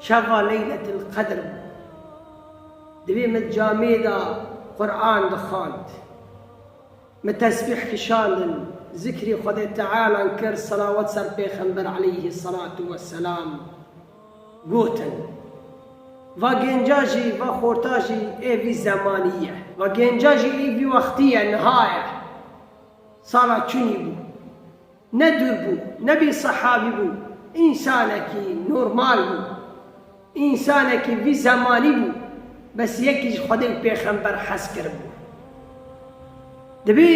Şeva Leyletil Qedr bû. Divê min camê de Quran dixwand. Min tesbîh kişandin, zikrê Xwedê Tealan kir, selawet ser pêxember aleyhî selatû we selam gotin. Va gênca jî, va xorta jî ê vî zemanî ye. Va gênca jî ê vî wextî ye, niha ye. Sala çûnî bû. Ne dûr bû, ne bî sehabî bû, însanekî normal bû. Însanekî vî zemanî bû, bes yekî ji Xwedê û pêxember hez kiribû. Dibê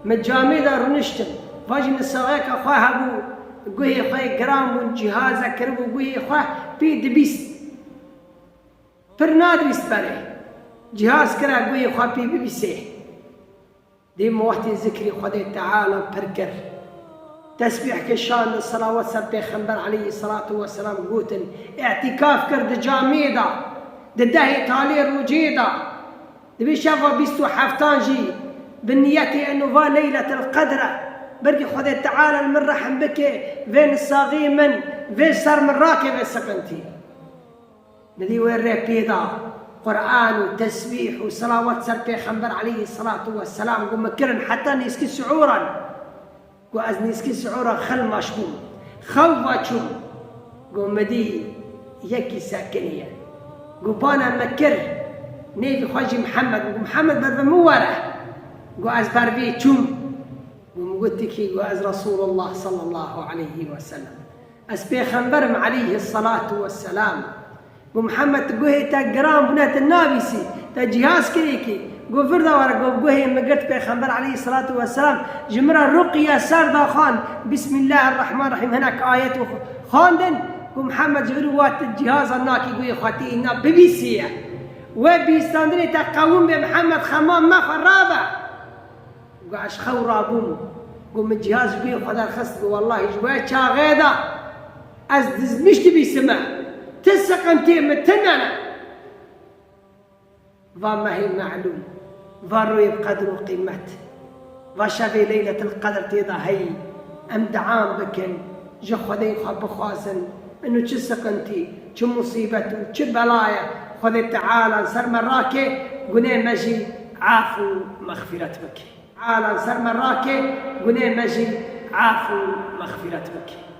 min camê de rûniştin, va jî min saxeka xwe hebû, guhê xwe yê giran bûn, cîhazek kiribû guhê xwe, pê dibîst. Pir nadibîst berê, cîhaz kira guhê xwe pê bibîsê. Dîm wextê zikrî Xwedê Teala pir kir. Tesbîh kişand, selawat ser Pêxember aleyhî selatû weselam gotin, îtîkaf kir di camiyê de, di dehê talê rojê de, di vê şeva bîst û heftan jî bi niyetê eno va leyletil qedr e, belkî Xwedê Teala li min rehm bike, vê nisaxî min, vê ser min rakeve siqintî. Nivî wê rê pê da, Quran û tesbîh û selawat ser pêxember aleyhî selatû we selam ku min kirin heta nêzkî sihûran. Ku ez nêzkî sihûran xilmaş bûm. Xewva çûm. Ku min dî yekî sekinî ye. Ku bana min kir. Nêvî xwe jî Mihemed bû. Ku Mihemed ber bi min were. Ku ez ber vê çûm. Ku min got ki ku ez Resûlullah sallallahu aleyhî weselem. Ez pêxember im aleyhi selat we selam. Got Mihemed tu guhê te giran bûne tu nabîsî, te cihaz kirê kî. Got virda were got guhê min girt pêxember aleyhi selat we selam ji min re ruqye ser da xwend Bismillah rehman rehîm hinek ayet û xwendin. Got Mihemed ji vir wat tu cihazan nakî guhê xwe tê îna bibîsîye. We bîstandirê te qewim be Mihemed xema me xwe rabe. Got ez xew rabûm. Got min cihaz ji guhê xwe derxist. Got wellahî ji we çaxê da ez dizmiş dibîsime. Ti siqintiyê min tune ne. Va mehê me'lûm, va royê bi qedir û qîmet, va şevê leyletil qedr tê de heyî. Em diam bikin, ji xwedeyê xwe bixwazin. Inu çi siqintî, çi musîbet û çi belaye Xwedê Teala li ser me rake, gunê me jî af û mexfîret bike. Ala li ser me rake, gunê me jî af û mexfîret bike.